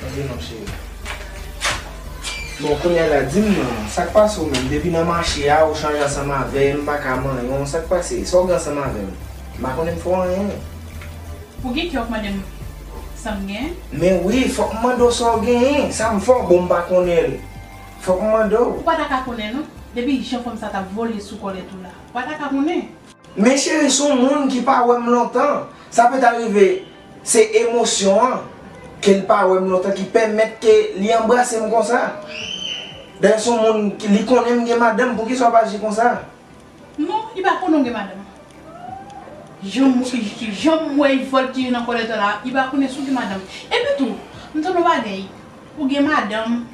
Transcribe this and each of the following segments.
Tande non cheri. Bon kounya la dim non, sak pase w menm depi nan mache a ou chanje ansanm avèm m paka manyen w sak pase sa w gen ansanm avèm m pa konnen m fè w anyen. Ou gen kè wap mande m sam gen? Men wi fòk m mande w sa w genyen, sa m fè w bon m pa konnen l fòk m mande w. Ou pa ta ka konnen non, depi jan fanm sa tap vole sou kòlèt ou la ou pa ta ka konnen. Men cheri son moun ki pa wèm lontan sa peut arrive se emosyon an kel pa wèm lontan ki pèmèt ke li anbrasem konsa dayè son moun li konnenm gen madanm poukisa wap aji konsa. Non li pa konnenw gen madanm janm wè voltige nan kòlèt ou la li pa konnen si w gen madanm epi tou m tande yon bagay ou gen madanm.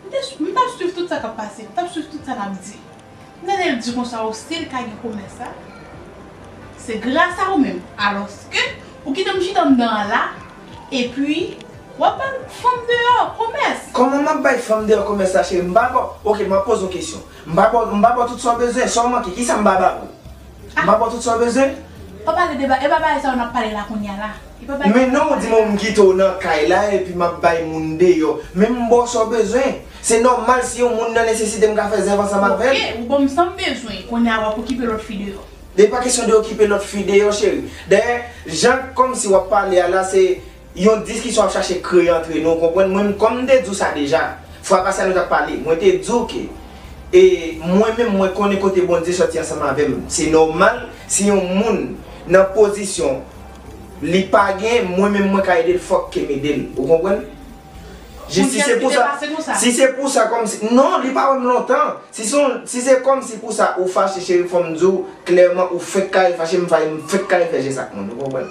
M te swiv, m t ap swiv tout sa k ap pase, m t ap swiv tout sa n ap di. Nènè l di konsa o si l ka gen komès la, se gras a ou menm. Alòske ou kite m chita anndan an la, epi w ap bay fanm deyò komès. Kòman m ap bay fanm deyò komès la cheri? M pa ba w, ok m ap poze w kesyon. M pa ba w, m pa ba w tout sa w bezwen, sa w manke, kisa m pa ba w? M ap ba w tout sa w bezwen. Pa pale de bagay, e pa bagay sa yo n ap pale la kounye a la. E pa bagay. Men non ou di m m kite w nan kay la epi m ap bay moun deyò. Men m ba w sa w bezwen. Se nòmal si yon moun nan nesesite m ka fè zèv ansanm avè l. Ok, ou ba m sa m bezwen, kounye a w ap okipe lòt fi deyò. Li pa kesyon de okipe lòt fi deyò cheri. Dayè, jan kòmsi w ap pale a la se. Yon diskisyon ap chache kreye antre nou, ou konprann? Mwen, kòm m te di w sa deja, fwa pase a nou t ap pale, mwen te di w ke e mwen menm mwen konnen kote Bondye sòti ansanm avè m. Se nòmal si yon moun nan pozisyon li pa gen, mwen menm mwen ka ede l fòk ke m ede l. Ou konprann? Je, si se pou sa, si se pou sa kòm si, non, li pa wè m lontan. Si se yon, si se kòm si pou sa ou fache cheri fò m di w klèman ou fenk kare fache, m fache, m fenk kare fè jès ak moun. Ou konprann?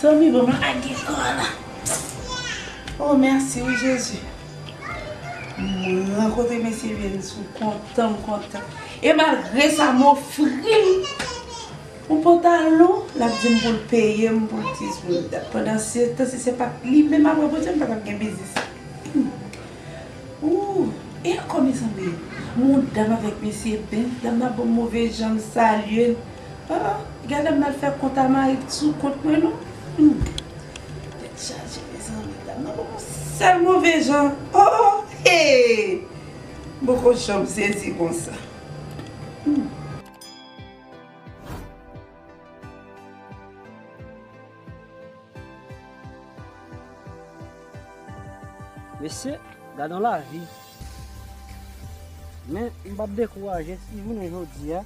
Zanmi banm lage kò la. Oh merci wi jezi. Mwen kote mesye vye m sou kontan m kontan. E malgre sa m ofri l yon pantalon l ap di m pou l peye m pou ti sou dat. Pandan se tan si se pat li menm apre Bondye m pa tap gen biznis. Ooh e anko mezanmi yon dam avèk mesye bèl dam nan banm move jan m salye l. Aa gadam mal fè kont a mayi t sou kont mwen non humm tèt chaje mezanmi dam nan banm yon sèl move jan oo hee m poko janm sezi konsa humm. Mesye gadon lavi Men m pap dekouraje si jounen jodi a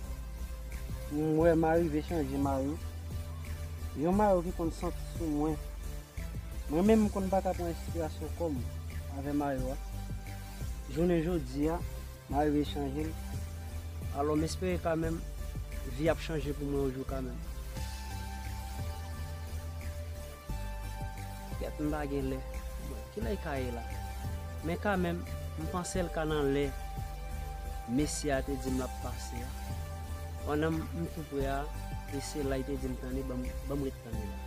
m wè m arive chanje mayo Yon mayo ki konn santi sou mwen Mwen menm m konn pa ka pran enspirasyon kò m avè mayo a Jounen jodi a May vin chanje m Alò m espere kamèm Vi ap chanje pou mwen yon jou kamèm Kèt m pa gen lè Bon kilè l ka ye la Men kamèm m panse l ka nan lè Mesye a te di m l ap pase a Pandan m tou pre a E se la li te di m tande ban m ret tande la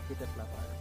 Petèt l ap ale.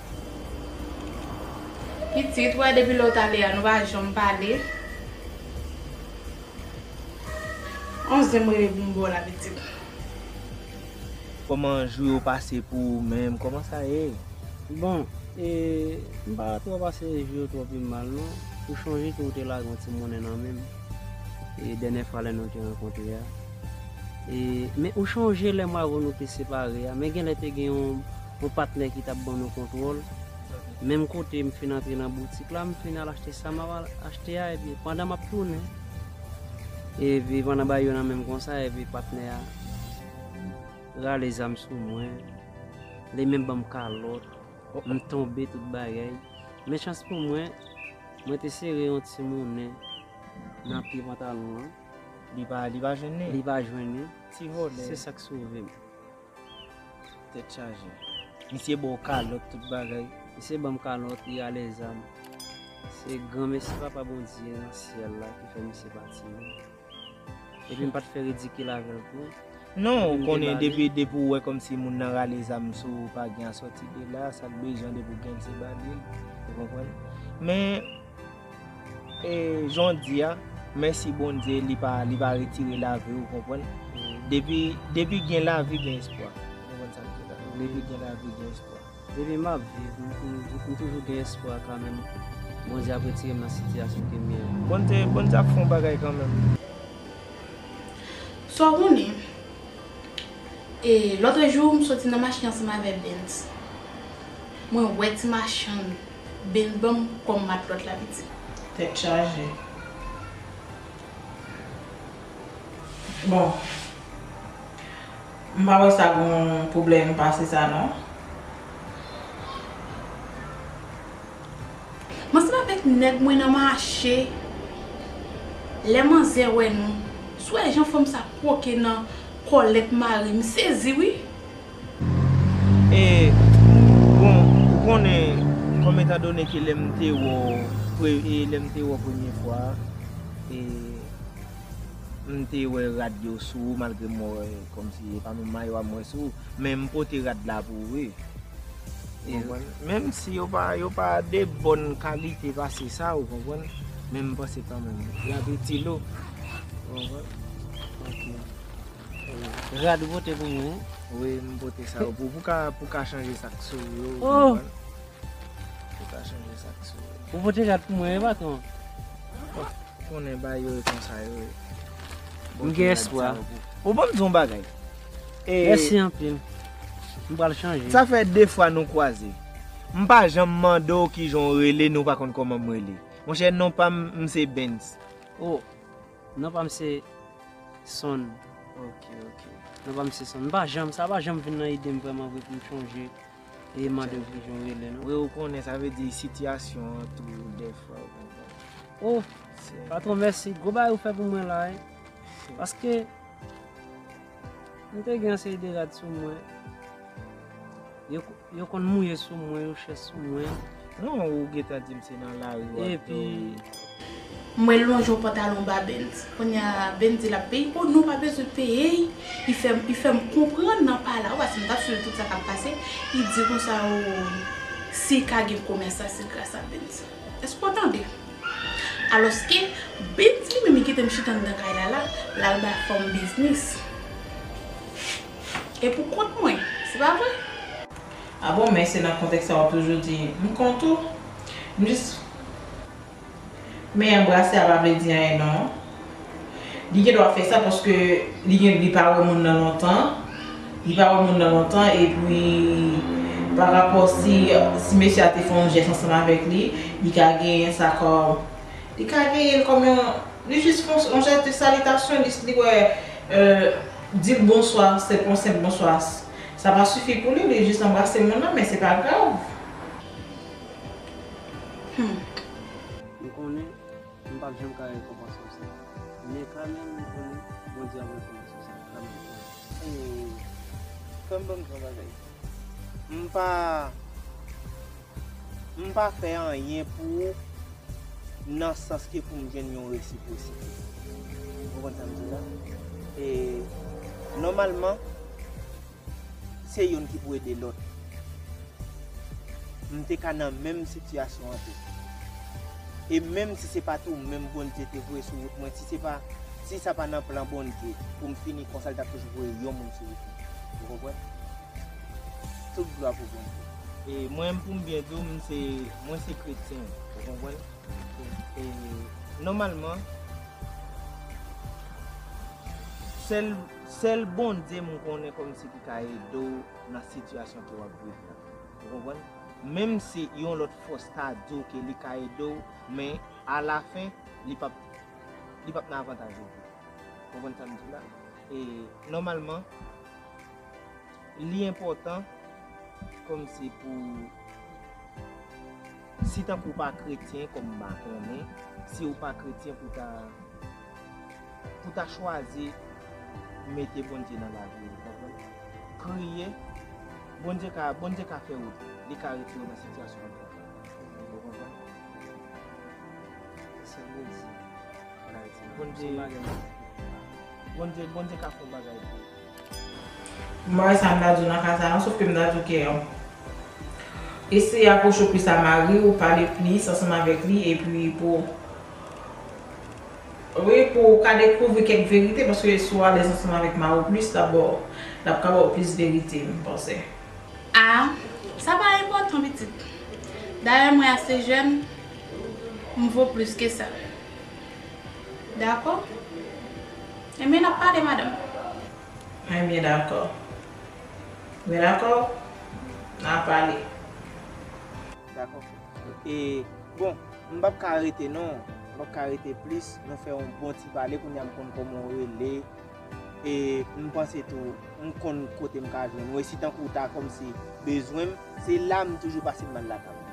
Pitit, wè depi lè ou t ale a nou pa janm pale. On zen m rele pou m ba w la pitit. Kòman jou yo pase pou ou menm, kòman sa ye? Bon, e, m pa twò pase jou yo twò pi mal non. Ou chonje ke ou te lage yon ti monnen nan men m, e, dènyè fwa lè nou te rankontre a. E, men ou chonje lè m avè w nou te separe a, men genlè te gen yon. Yon patnè ki tap ban nou kontwòl, menm kote m fin antre nan boutik la, m fin al achte sa map al achte a epi pandan map tounen epi pandan bagay yo nan menm konsa epi patnè a rale zam sou mwen, li menm banm kalòt, m tonbe tout bagay, men chans pou mwen, mwen te sere yon ti monnen nan pye pantalon an, li pa jwenn li, se sak sove m. Tèt chaje. Misye baw kalòt tout bagay. Misye banm kalòt li alèzam. Se granmesi papa Bondye nan syèl la ki fè misye pati non. Epi m pat fè ridikil avèl tou. Non ou konnen depi depi ou wè kòmsi moun nan rale zam sou ou pa gen asòti de la sak bezwen depi ou gen l se ba li l ou konprann men E jan w di a mèsi Bondye li pa li pa retire lavi w konprann depi depi gen lavi gen espwa ou konprann sa m di la depi gen lavi gen espwa. Depi map viv m toujou gen espwa kanmenm Bondye ap retire m nan sitiyasyon kem ye a. Bondye Bondye ap fè yon bagay kanmenm. Sa w konnen e lotrejou m soti nan machin ansanm avè Bens mwen wè ti machann Byn banm kòm matlòt la pitit. Tèt chaje. Bon. M pa wè sa gon pwoblèm pase sa non. M ansanm avèk nèg mwen nan mache, lè manzè wè nou, sou wè jan fanm sa kwoke nan kòlèt mari m sezi wi. E bon ou konnen kòm etan done ke lèm te wè w pre e lèm te wè w premye fwa e m te wè rad yo sou ou malgre mwen wè kòm si e pa menm mayo a m wè sou ou men m pote rad la pou ou wi ou konprann menm si yo pa yo pa de bòn kalite pase sa ou konprann men m panse kanmenm y ap itil ou ou konprann ok. Rad ou pote pou mwen an. Wi m pote sa yo pou pou w ka chanje sa k sou ou yo ou konprann. Pou w ka chanje sa k sou ou yo. Ou pote rad pou mwen wi patwon. Bon, ou konnen bagay yo e konsa yo ye. M gen espwa. Ou banm di yon bagay. Mèsi anpil. M pral chanje. Sa fè 2 fwa nou kwaze. M pa janm mande w kijan w rele ni w pa konn kòman m rele. Monchè non pa m, m se Bens. O! Non pa m se son. Ok ok. Non pa m se son. M pa janm, sa pa janm vin nan ide m vrèman vre pou m chonje e mande w kijan w rele non. Wi ou konnen sa vle di sitiyasyon an tou dèfwa ou konprann. O! Patwon mèsi, gwo bagay ou fè pou mwen la wi. Paske. M te gen yon seri de rad sou mwen. Yo konn mouye sou mwen, yo chè sou mwen. Non, ou gentan di m se nan lari w ap domi. Mwen lonje yon pantalon ba Benz. Kounye a, Benz di l ap peye. O non, pa bezwen peye. Li fè m konprann nan pa la. Ou wè, si m ta suiv tout sa k ap pase, li di konsa, O, si ka gen komèsan se gras a Benz. Èske w tande? Alòske, Bibs li menm li kite m chita anndan kay la la, l al bay fòm biznis. E pou kont mwen, se pa vre? A bon, men se nan kontèks sa w ap toujou di, M kont ou. M jis. Men anbrase a pa vle di anyen non. Li gen dwa fè sa paske li gen li pa wè moun nan lontan, li pa wè moun nan lontan epi pa rapò si si mesye a te fè yon jès ansanm avèk li, li ka genyen sa kòm li ka genyen l kòm yon li jis fè yon jès de salitasyon li li wè di l bonswa se yon senp bonswa sa pa sifi pou li, li jis anbrase moun nan men se pa grav. M pap janm ka rekonpanse w sa. Men kanmenm m konnen Bondye ap rekonpanse w sa kanmenm. Ooh kèm banm tro bagay. M pa m pa fè anyen pou ou nan sans ke pou m jwenn yon resiprosite. Ou konprann sa m di la? E nòmalman. Se youn ki pou ede lòt. M te ka nan menm sitiyasyon an tou. E menm si se pa t ou menm Bondye te voye sou wout mwen, si sa pa nan plan Bondye pou m fini konsa, li t ap toujou voye yon moun sou wout mwen. Ou konprann? Tout glwa pou Bondye. E mwen pou m byen di w, mwen se kretyen. Ou konprann? E nòmalman, sèl. Sèl Bondye mwen konnen kòmsi ki ka ede w nan sitiyasyon ke wap viv la. Ou konprann? Menm si yon lòt fòs ta di w ke li ka ede w, men a la fen li pap li pap nan avantaj ou. Ou konprann sa m di la? E nòmalman li enpòtan kòmsi pou si tankou w pa kretyen kòm m pa konnen, si w pa kretyen pou ta Pou ta chwazi mete Bondye nan lavi ou konprann? Priye, Bondye ka Bondye ka fè wout, li ka retire w nan sitiyasyon ou konprann? Ou konprann? Se sèl redi an Ayiti. Bondye Bondye ka fè yon bagay pou ou. Mwen wè sa m ta di w nan ka sa lan, sof ke m ta di w ke eseye apwoche w plis a mari w, pale plis ansanm avèk li epi pou w, wi pou w ka dekouvri kèk verite paske si w alèz ansanm avèk mari w plis l ap ba w, l ap ka ba w plis verite m panse. A, sa pa enpòtan pitit. Dayè mwen ase jèn, m vo plis ke sa. Dakò? Enbyen nap pale madanm. Enbyen dakò. Enbyen dakò na pale. Dakò frè. E bon m pap ka rete non. M pap ka rete plis. Nou fè yon bon ti pale kounya m konn kòman w rele. E m panse tou m konn kote m ka jwenn ou. E si tankou w ta kòmsi bezwen m se la m toujou pase m bal lakay ou.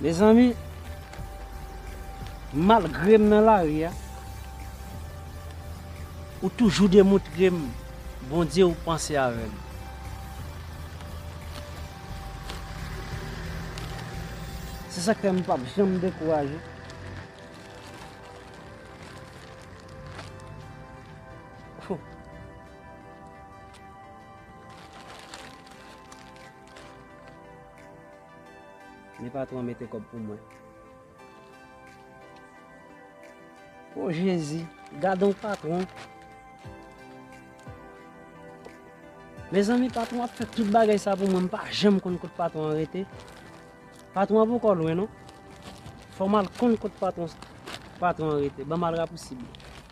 Mezanmi malgre m nan lari a ou toujou demoutre m Bondye ou panse avè m. Se sak fè m pap janm dekouraje. Ni patron an mete kob pou mwen. Oh jezi, gadon patron. Mezanmi patron ap fè tout bagay sa pou mwen, m pa janm konn kot patron an rete. Patron an poko lwen non. Fò mal konn kot patron an rete, banm al rapousib.